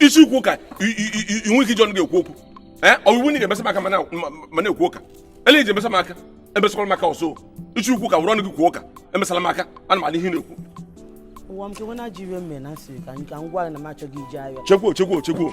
ị sị ikwu ụka i nwe ike iji ọnụ gị ekwu okwu eh, ọ wụ na ị ga-emesa m aka ma na-ekwu ụka ele ihe i ji emesa m aka emesakwala m aka ọzọ ị sị ikwu ụka were ọnụ gị kwuo ụka emesala m aka ana m anụ ihe ị na-ekwu ụwa m kewe na jiri mme na asịrị ka m gwa na m achọghị ije ahịa chekwo chekwo chekwo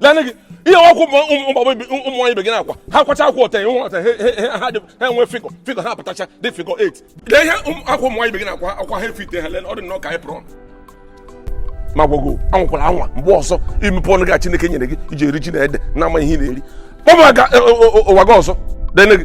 lene gị ihe akwa ụmụ nwaanyị ibe gị na-akwa ha kwacha akwa ọta nwa ọta ha enwe figure figure ha pụtacha dị figure 8 lee ihe akwa ụmụ nwaanyị ibe gị na-akwa akwa ha efit ha lee ọ dị nnọọ ka anyị pụrụ ọnụ ma gwago anwakwala anwa mgbe ọzọ imepe ọnụ gị a Chineke nyere gị iji eri ji na ede na ama ihe ị na-eri kpọba ụwa gị ọzọ lene gị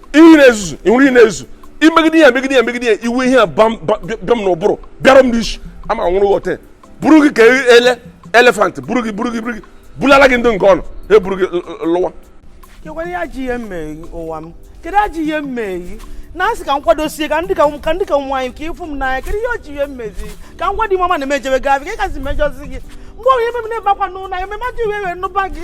ihe na-ezuzu ị nwere ihe na-ezuzu i megide ya megide ya megide ya iwe ihe a bam- ba- bịa bịa m n'ụbụrụ bịara m n'isi ama nwụrụ ghọta buru gị ka elephant buru gị buru gị buru gị bulala gị ndị nke unu ha eburu gị l- l- lụwa kekwara ajọ ihe m mere ụwa m kedu ajọ ihe m mere na asị ka m kwadosie ka ndị ka m- ka ndị ka nwaanyị ka ị fụ m n'anya kedu ihe o ji ihe m mezi ka m gwa di mama na emejebe gị afị ka ị gazi mejọzi gị mgbe ọbụla ebe m na-ebe akwa n'ụlọ ya ememe ajọ iwe wee nụba gị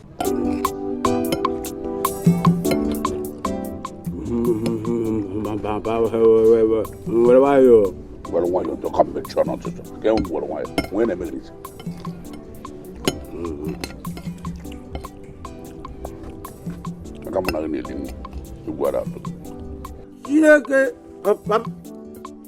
were nwayọọ were nwayọọ njọ ka mmechi ọnụ ọtụtụ ka enwe were nwayọọ nwee na-eme gị n'isi aka mụ na gị na-edi nwa igwara atụ ihe ke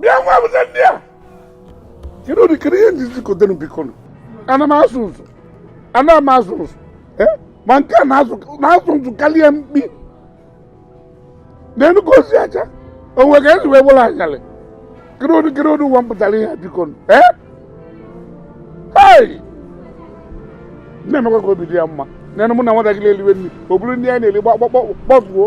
bịa nwa bụta ndị a kedu ụdị kedu ihe m jizi kote unu bikonu ana m asụ nsụ ana m asụ nsụ ma nke a na-asụ nsụ kalịa mkpi n'elu ka o si aja onwe ka esi wee bụrụ anyalị kedu ụdị kedu ụdị ụwa m pụtalụ ihe a bikonu na-emekwa ka obi dị ya mma na mụ na nwatakịrị eliwe nri o buru nri anyị na-eli gbakpọkpọ kpọfuo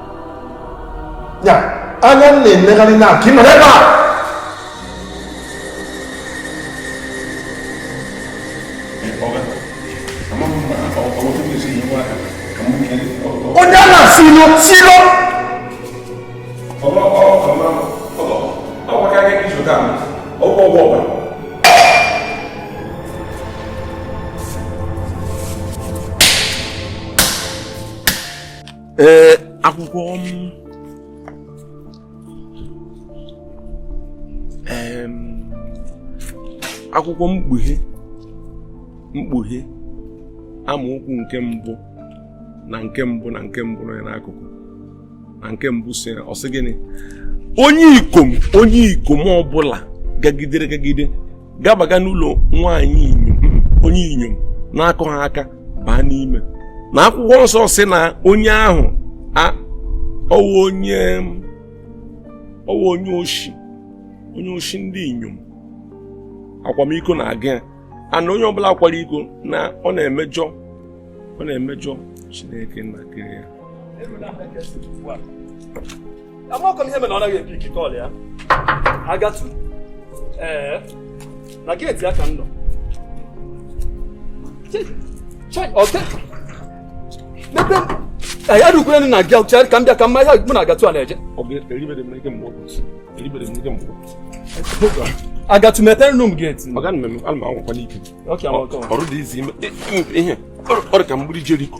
ya anya m na-enegharị na ka ị nọrọ ebe a onye a na-asị ilo si ilo ee akwụkwọ akwụkwọ mkpughe mkpughe amaokwu nke mbụ na nke mbụ na nke mbụ nọ ya n'akụkụ na nke mbụ sị ọ sị gịnị onye ikom onye ikom ọbụla gagidere gagide gabaga n'ụlọ nwaanyị inyom onye inyom na-akụghị aka baa n'ime na akwụkwọ nsọ sị na onye ahụ ọ wụ onye ọ wụ onye oshi onye oshi ndị inyom akwamiko na-aga ya ana onye ọbụla kwara iko na ọ na-emejọ ọ na-emejọ Chineke nna kere ya amakọ m ihe mere ọ naghị epick call ya agatu ee eh, na gate ya ka m nọ mebe anyị arụkwere na gị ọchara ka m bịa ka mma ihe mụ na agatu a na-eje agatu mepeere nụ m gate ọrụ dị izi ime ọrụ ka mgbidi jeriko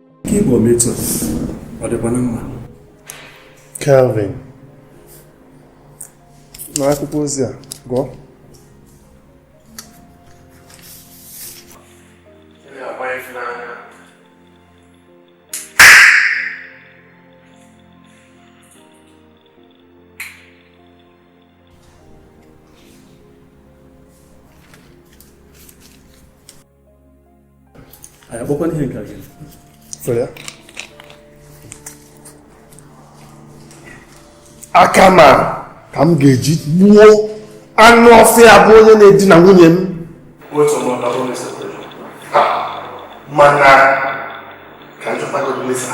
Ka ịbụ ometụ ọ dịkwa na mma. Calvin, naa akwụkwọ ozi a gụọ. anyị akpọkwana ihe nke gị aka m a ka m ga-eji gbuo anụ ọfịa bụ onye na-edina nwunye m mana ka m chọtago mmesa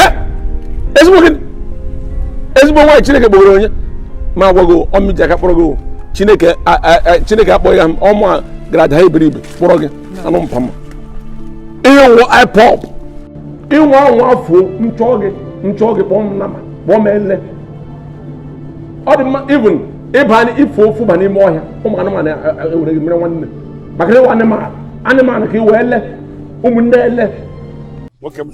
eh? ezigbo gịnị ezigbo nwaanyị chineke kpọgoro onye ma agwago ọ mụ ji aka kpọrọ gị chineke chineke akpọghị ya ọ mụa gara ada iberibe kpọrọ gị anụ mpama ihe nwụ ipop ịnwa anwa afọ nchọ gị nchọ gị kpọọ m nama kpọọ m ele ọ dị mma even ịba i fuo efu baa n'ime ọhịa ụmụ anụmanụ e, e, e, ewere gị mere nwanne maka na ị wụ anụmanụ ka ị wee ele ụmụnne ele nwoke m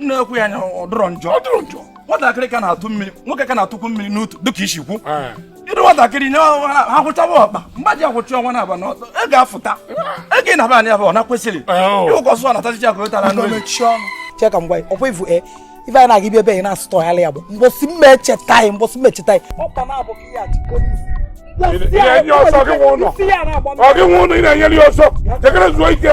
na-ekwu ya na ọ dịrọ njọ ọ dịrọ njọ nwatakịrị ka na-atụ mmiri nwoke ka na-atụkwu mmiri n'utu dịka isi kwu ịdị nwatakịrị nye ha kwụchawa ọkpa mgba ji akwụchi ọnwa na aba na ọtọ ị ga-afụta ego ị na-aba anya bụ ọ na-akwesịrị ịwụkọsụ ọ na-atachicha ka o tara n'oyi cheka mgbe ọkwa ivu e ife anyị na-aga ibi ebe anyị na-asụtọ ya ya bụ mbọsị mma echeta anyị mbọsị mma echeta anyị ọkpa na-abụ ka ihe achị polisi ị na-enye ọsọ gị nwe ụlọ ọ gị nwe ụlọ ị na-enyere ya ọsọ jekere zuo ike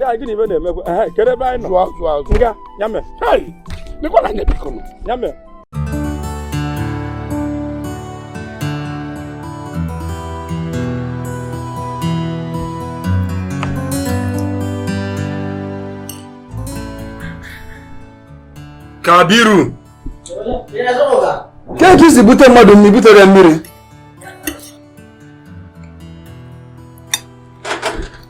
ya gịnị ibe na-emekwa ehe kedu ebe anyị nọ zụọ zụọ zụọ nga ya mee hei lekwa na anya biko nụ ya mee kabiru ka etu isi bute mmadụ mmiri butere mmiri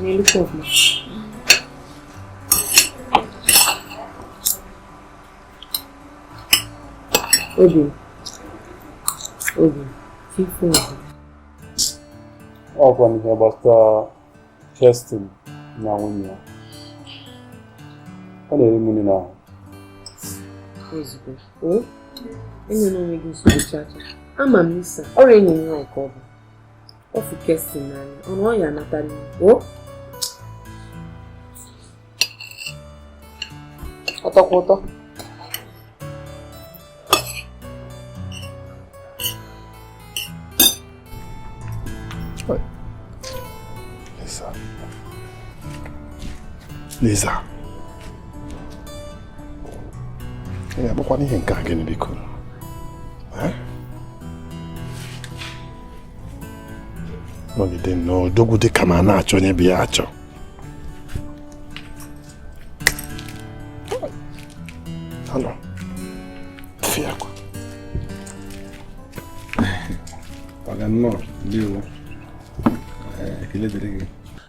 n'elu kọpụ obi obi ife obi ọ wụkwanụ ihe gbasara Kerstin na nwunye ya ọ na-eri mụ n'ahụ ozugbo enyere onwe gị nsogbu chacha ama m isa ọrịa enyi m nwaanyị ka ọ bụ ọ fụ Kerstin na nwunye ya anata n'igbo ọtọkwa ụtọ Lisa. ya bụkwana ihe nke a gịnị biko nọgide nnọọ odogwu dị ka ma a na-achọ onye bụ ya achọ Hello. Fiakwa. Paga nnọọ, ndewo. Ekele dịrị gị.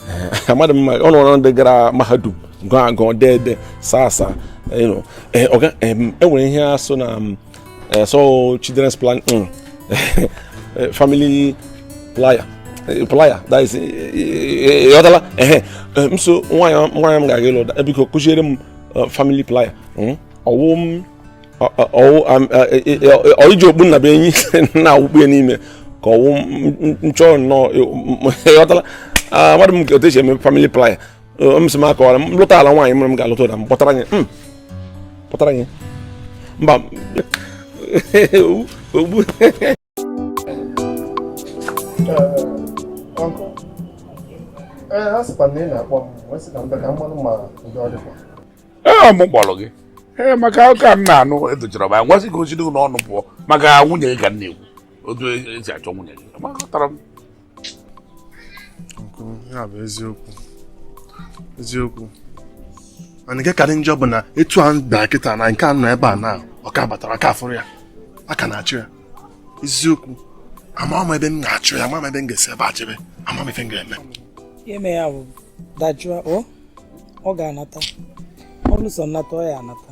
eh, amadị m ọ nọrọ ndị gara mahadum gụọ agụọ dee ede saa asaa e nwere ihe a sị na mm, eh, so children's plan mm, eh, family playa playa that is ịghọtala ehe m so nwaanyị m ga-aga ịlụ biko kụziere m family playa hmm? ọ wụ m iji okpu nnabuenyi na-awụkpu ya n'ime ka ọ wụ nchọ nnọọ ịghọtala amadị m otu e si eme famili playa m sị m akọwara m lụtala nwaanyị mụrụ m ga-alụta ụda m kpọtara anyị kpọtara anyị mba ogbu ee ọ mụ kpọrọ gị ee maka ụka m na-anụ edochara m agwasị ka o si gị n'ọnụ pụọ maka nwunye gị ka m na-ekwu otu e si achọ nwunye gị amatara m ya bụ eziokwu eziokwu mana nke karị njọ bụ na etu a bịa kịta na nke a nọ ebe a na ọ ka batarọ a ka afụrọ ya a ka na-achọ ya eziokwu ama m ebe m ga-achọ ya ama m ebe m ga-esi ebe a jebe ama m ife m ga-eme ime ya bụ dajụọ ọ ga-anata ọlụsọ nnata ọ ya-anata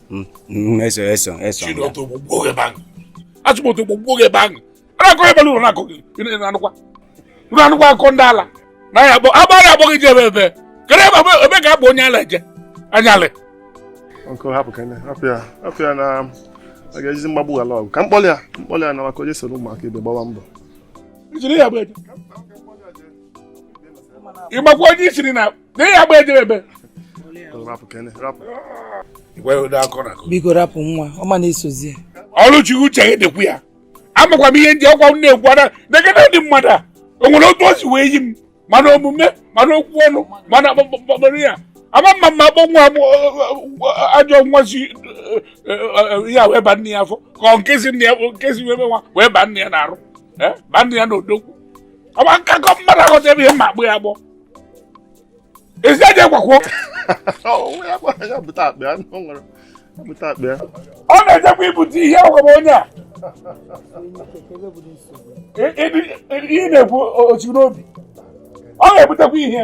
Mm, mm, eso eso eso chidoto gbogbo oge ebe ahụ achụmoto gbogbo oge ebe ahụ anakọ ebe ụlọ na-akọ gị na-anụkwa ụlọ anụkwa akọ ndị ala na ya akpọ agba ya akpọ gị ji ebe ebe kere ebe ebe ka abụ onye ala eje anyalị ọkụ hapụ ka hapụ ya hapụ ya na a ga-ejizi mgbagbu ala ọgụ ka mkpọlị ya mkpọlị ya na maka onye soro ụmụaka ibe gbawa mbọ ịgbakwa onye isiri na N'ihi ya gba ejebe ebe. Biko rapụ nwa, ọ ma na-esozi ya. Ọlụchi uche gị dịkwu ya. Amakwa m ihe ndị ọkwa m na-ekwu ada negede ndị mmadụ a. O nwere otu o si wee yi m mana omume mana okwu ọnụ mana akpọkpọkpọrọ ya. Ama mma mma akpọ nwa ajọ nwa si ya wee ba nne ya afọ ka ọ nkezi nne ya nkezi wee nwa wee ba nne ya n'arụ. Ba nne ya n'odogwu. Ọ bụ akakọ mmadụ aghọta ebe ihe mma agbụ ya agbọ. ezi aja ịgwakwọ ọ na-ejekwa ibute ihe ọgwụgwọ onye a ihe na-ekwu otu n'obi ọ ga-ebutekwa ihe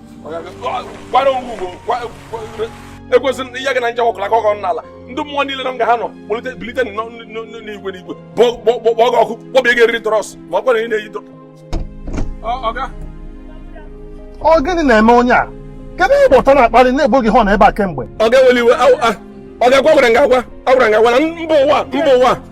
ekwesịrị na ihe gị na nje ọkụla ka ọgọ n'ala ndị mmụọ niile na nga ha nọ kpọlite bilite n'igwe n'igwe kpọọ gị ọkụ kpọbie gị eriri trọs ma ọ kwere ị na-eyi ọ gịnị na-eme onye a kedu ihe ụtọ na-akpali na-egbu gị họn ebe a kemgbe ọ ga-eweli iwe ọ ga-agwa gwara nga agwa agwara nga agwa na mba ụwa mba ụwa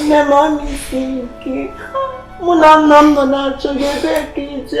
nne m ọ na-esi ike mụ na nna m nọ na-achọ gị ebe ka i je